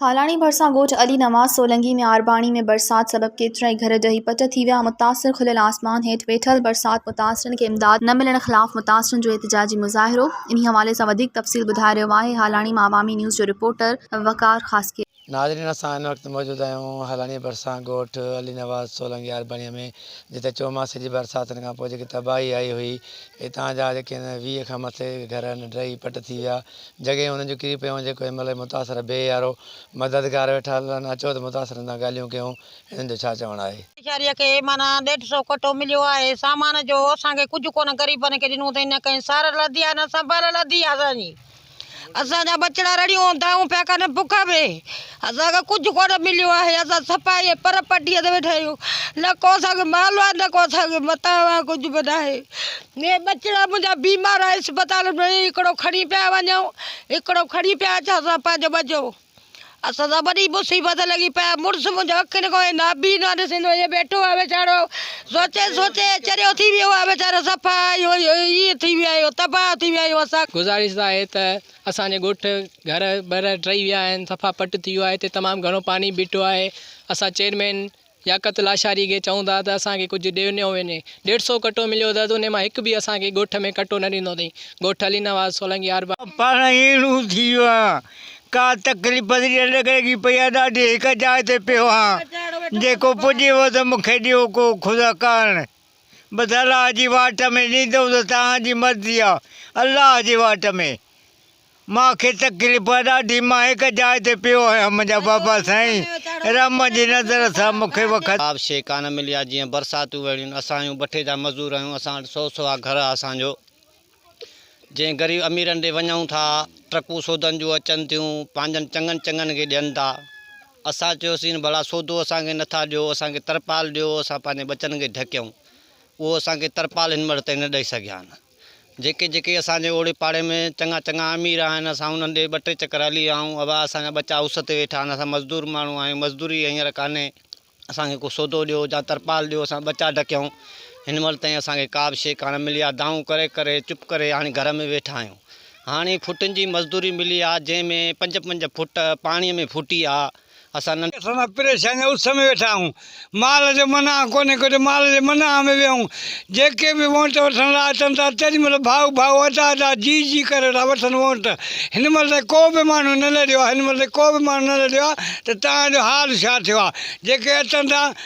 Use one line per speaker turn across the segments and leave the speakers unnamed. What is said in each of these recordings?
هالاڻي ڀرسان ڳوٺ علي نواز سولنگي ۾ آرباڻي ۾ برسات سبب ڪيترائي گهر ڊهي پٽ ٿي ويا، متاثر کليل آسمان هيٺ ويٺل، برسات متاثرن کي امداد نه ملڻ خلاف متاثرن جو احتجاجي مظاهرو، انهي حوالي سان وڌيڪ تفصيل ٻڌائي رهيو آهي هالاڻي مان عوامي نيوز جو رپورٽر وقار خاصخيلي. ناظرين اسان هن
وقت موجود آهيون هلانيء ڀرسان ڳوٺ علي نواز سولنگي آرباڻيء ۾ جتي چوماسي جي برساتن کان پوء جيڪي تباهي آئي هئي اتان جا جيڪي هن ويهه کان مٿي گهر هن ڊهي پٽ ٿي ويا جڳهيون هنن جون ڪري پيون جيڪو هنمهل هي متاثر بي يارو مددگار ويٺا لڙن اچو ته متاثرن سان ڳالهيون ڪيون هنن جو ڇا چوڻ آهي. ويچاريء کي معنيٰ
ڏيڍ سئو ڪٽو مليو آهي سامان جو اسان کي ڪجهه ڪونه غريبن کي ڏنو اٿئي نه ڪنهن سارل اڌي آهي نه سنڀال اڌي آهي اسان جي اسان جا ٻچڙا رڙيون ھوندائون پيا ڪن بک ۾ اسان کي ڪجھ ڪونه مليو آھي اسان صفائي ۽ پر پٽي تي ويٺا آھيون نه ڪو اسان کي مالھو آھي نه ڪو اسان کي متاع آھي ڪجھ به ناھي ھي ٻچڙا منھنجا بيمار آھن اسپتالن ۾ ھڪڙو کڻي پيا وڃون ھڪڙو کڻي پيا اچن اسان پنھنجو ٻچو اسان سان وڏي مصيبت لڳي پئي آهي، مڙس منهنجو اکين کان هي نابينا ڏسندو ائين بيٺو آهي ويچارو، سوچي سوچي چريو ٿي ويو آهي ويچارو، صفا ائين ٿي ويا آهيون، تباهه ٿي ويا آهيون اسان. گذارش آهي ته
اسان جي ڳوٺ گهر ٻر ٽهي ويا آهن، صفا پٽ ٿي ويو آهي، هتي تمام گهڻو پاڻي بيٺو آهي، اسان چيئرمين ياقت لاشاري کي چئون ٿا ته اسان کي ڪجهه ڏي نيو وڃي. ڏيڍ سئو ڪٽو مليو اٿس، انهي مان هڪ به اسان کي ڳوٺ ۾ ڪٽو نه ڏنو اٿئي. ڳوٺ علي نواز سولنگي آربان. پاڻ اهڙو
ٿي ويو آهيان، ڪا تڪليف پسي ڄڻ لڳي پئي آهي ڏاڍي هڪ جاء تي پيو آهيان، جيڪو پڄيو ته مون کي ڏيو ڪو خدا ڪارڻ، بس الله جي واٽ ۾ ڏيندو ته توهان جي مرضي آهي، الله جي واٽ ۾. مان کي تڪليف آهي ڏاڍي، مان هڪ جاء تي پيو آهيان، منهنجا بابا سائين، رحم جي نظر سان مون کي وکت. جواب، شيء ڪانه ملي
آهي، جيئن برساتون وهڙيون، اسان آهيون بٺي جا مزور آهيون، اسان وٽ سو سوا گهر آهي، اسان جو جنهن غريب اميرن ڏي وڃون ٿا، ٽرڪون سودن جون اچن ٿيون، پنهنجن چڱن چڱن کي ڏين ٿا، اسان چيوسين ڀلا سودو اسان کي نٿا ڏيو، اسان کي ترپال ڏيو، اسان پنهنجي ٻچن کي ڍڪيون، اهو اسان کي ترپال هن مهڙ تائين نه ڏئي سگهيا آهن. جيڪي جيڪي اسان جي اوڙي پاڙي ۾ چڱا چڱا امير آهن، اسان انهن ڏي ٻه ٽي چڪر هلي آئون. ابا اسان جا ٻچا اس تي ويٺا آهن، اسان مزدور ماڻهو آهيون، مزدوري هينئر ڪانهي. اسان کي ڪو سودو ڏيو جا ترپال ڏيو، اسان ٻچا ڍڪيون. هن مهل تائين اسان کي ڪا به شيء ڪانه ملي آ. دانهون ڪري ڪري چپ ڪري هاڻي گهر ۾ ويٺا آهيون. هاڻي فوٽن جي مزدوري ملي آ، جنهن ۾ پنج پنج فوٽ پاڻيء ۾ ڦوٽي آ. اسان ننڍ اسان سان پريشاني جي
اس ۾ ويٺا آهيون مال جو منع ڪونهي ڪجهه مال جي منع ۾ ويهون جيڪي به وونٽ وٺڻ لاء اچن ٿا تيڏي مهل ڀاء ڀاء ادا ادا جي جي ڪري ويٺا وٺن وونٽ هن مهل تائين ڪو به ماڻهو نه لڏيو آهي هن مهل تائين ڪو به ماڻهو نه لڏيو آهي ته توهان جو حال ڇا ٿيو آهي جيڪي اچن ٿا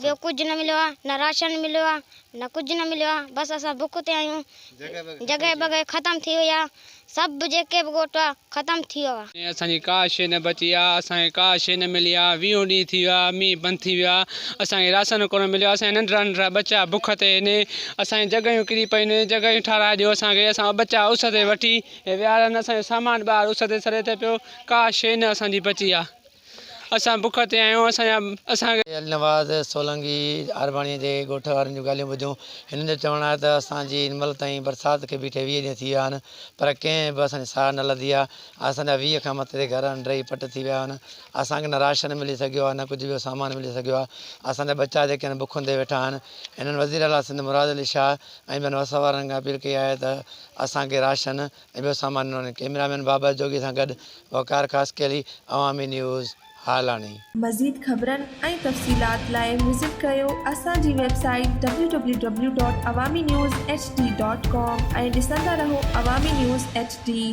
ٻيو ڪجهه نه مليو آهي نه راشن مليو آهي نه ڪجهه نه مليو آهي بس اسان بک تي آهيون جڳهه بڳهه ختم ٿي وئي آهي سڀ جيڪي به ڳوٺ آهي ختم ٿي ويو آهي. اسان جي ڪا شيء نه
بچي آهي اسان کي ڪا شيء نه ملي آهي ويهون ڏينهن ٿي ويا آهي مينهن بند ٿي ويو آهي اسان کي راشن ڪونه مليو آهي اسان جا ننڍڙا ننڍڙا ٻچا بک تي آهن اسان جون جڳهيون ڪري پيون آهن جڳهيون ٺاهرائي ڏيو اسان کي اسان جا ٻچا اس تي وٺي ويهاريا آهن اسان جو سامان ٻاهر اس تي سڙي ٿو پيو ڪا شيء نه اسان جي بچي آهي. اسان بک تي آهيون، اسان جا، اسان کي. علي نواز
سولنگي آرباڻيء جي ڳوٺ وارن جون ڳالهيون ٻڌيون. هنن جو چوڻ آهي ته اسان جي هن مهل تائين برسات کي بيٺي ويهه ڏينهن ٿي ويا آهن، پر ڪنهن به اسان جي ساهه نه لڌي آهي. اسان جا ويهه کان مٿي گهر انڊري پٽ ٿي ويا آهن. اسان کي نه راشن ملي سگهيو آهي، نه ڪجهه ٻيو سامان ملي سگهيو آهي. اسان جا ٻچا جيڪي آهن بک هوندي ويٺا آهن. هنن وزيراعليٰ سنڌ مراد علي شاهه ۽ ٻين وس وارن کان اپيل ڪئي آهي ته اسان کي راشن، ۽ ٻيو سامان ڏنو وڃي. ڪئميرا مين بابر جوڳي سان گڏ وقار خاصخيلي، عوامي نيوز، هالاڻي. مزيد خبرن
۽ تفصيلات لاء وزٽ ڪريو اسان جي web site W W W dot Awami news H D dot com ۽ ڏسندا رهو عوامي نيوز ايڇ ڊي.